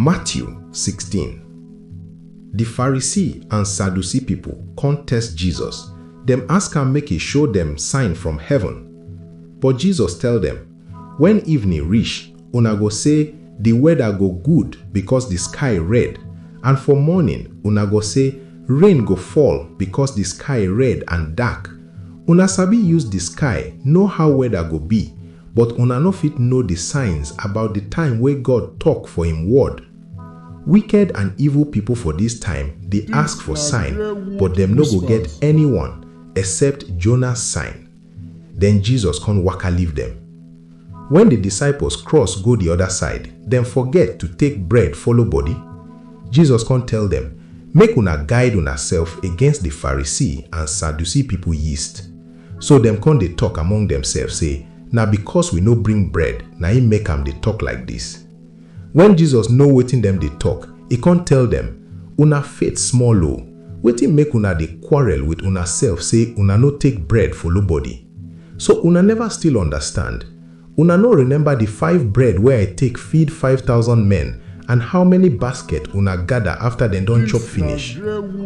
Matthew sixteen Di Pharisee and Sadducee pipo kon test Jesus, dem ask am make e show dem sign from heaven. But Jesus tell dem, Wen evening rish, una go sey, Di weada go good bikos di sky red, and for morning una go sey, Rain go fall bikos di sky red and dark. Una sabi use di sky know how weather go be, but una no fit know di signs about di time wey God tok for im Word? Wicked and evil pipo for dis time dey ask for sign, but dem no go get anyone except Jonah sign. Den Jesus con waka leave dem. Wen di disciples cross go di oda side, dem forget to take bread follow body. Jesus con tell dem, Make una guide unasef against di Pharisee and Sadducee pipo yeast. So dem con dey tok among demsef sey, Na becos we no bring bread na im make am dey tok like dis. Wen Jesus know wetin dem dey tok, e kon tell dem, Una faith small o! Wetin make una dey quarrel with unasef sey una no take bread follow body? So una neva still understand? Una no remember di five bread wey I take feed five thousand men and how many basket una gada afta dem don chop finish?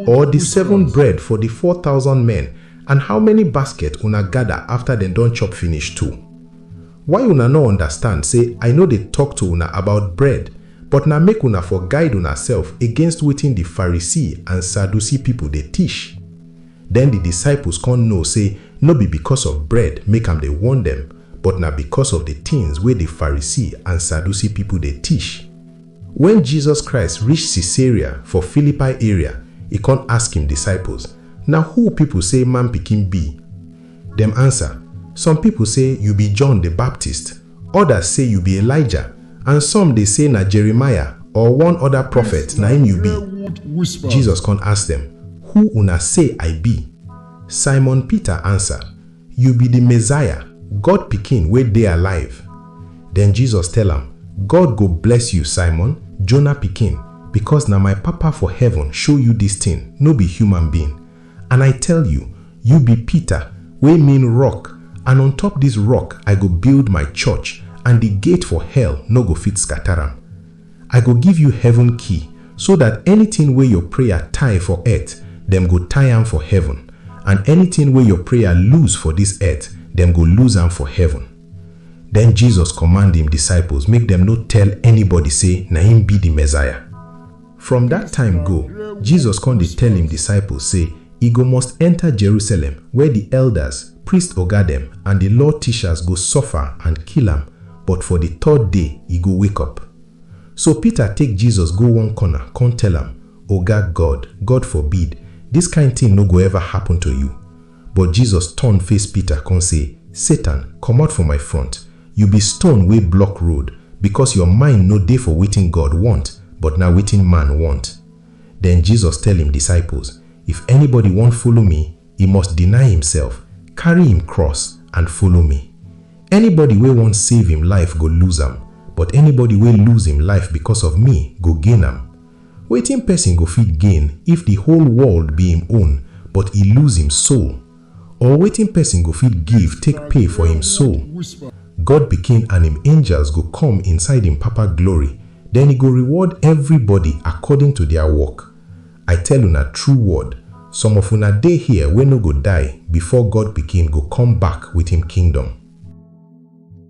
Or di seven bread for di four thousand men and how many basket una gada afta dem don chop finish too? Why una nor understand sey I nor dey tok to una about bread, but na make una for guide unasef against wetin di Farisee and Saducee pipo dey tish? Den di disciples kon know sey nor be bikos of bread make am dey warn dem, but na bikos of di tins wey di Farisee and Saducee pipo dey tish. Wen Jesus Christ rish Caesarea for Philippi area, e kon ask im disciples, Na who pipo sey Man Pikin bi? Dem ansa, Some pipol sey yu bi John di Baptist, odas sey yu bi Elijah, and some dey sey na Jeremiah or one oda profet na im yu bi. Jesus kon ask dem, Who una sey I bi? Simon Peter ansa, Yu bi di Messiah, God Pikin wey dey alive. Den Jesus tell am, God go bless yu, Simon, Jonah pikin, bikos na my Papa for heaven show yu dis tin, no bi human being. And I tell you, You be Peter, wey mean Rock, and on top dis rock I go build my church, and di gate for hell no go fit scatter am. I go give you heaven key, so dat anytin wey your prayer tie for earth, dem go tie am for heaven, and anytin wey your prayer loose for dis earth, dem go loose am for heaven. Den Jesus command im disciples make dem no tell anybody sey na im be di Messiah. From dat time go, Jesus kon dey tell im disciples sey e go must enter Jerusalem where di elders, priest oga dem and di law teachers go suffer and kill am but for di third day e go wake up. So Peter take Jesus go one corner kon tell am, Oga, God, God forbid, dis kind tin no go ever happen to you. But Jesus turn face Peter con say, Satan, comot for my front, you be stone wey block road, because your mind no dey for wetin God want, but na wetin man want. Then Jesus tell im disciples, If anybody wan follow me, e must deny imself, carry im cross, and follow me. Anybody wey wan save im life go lose am, but anybody wey lose im life because of me go gain am. Wetin pesin go fit gain if di whole world be im own but e lose im soul? Or wetin pesin go fit give take pay for im soul? God Pikin and im angels go come inside im Papa glory, den e go reward everybody according to dia work. I tell una true word, some of una dey here wey no go die before God Pikin go come back with im kingdom.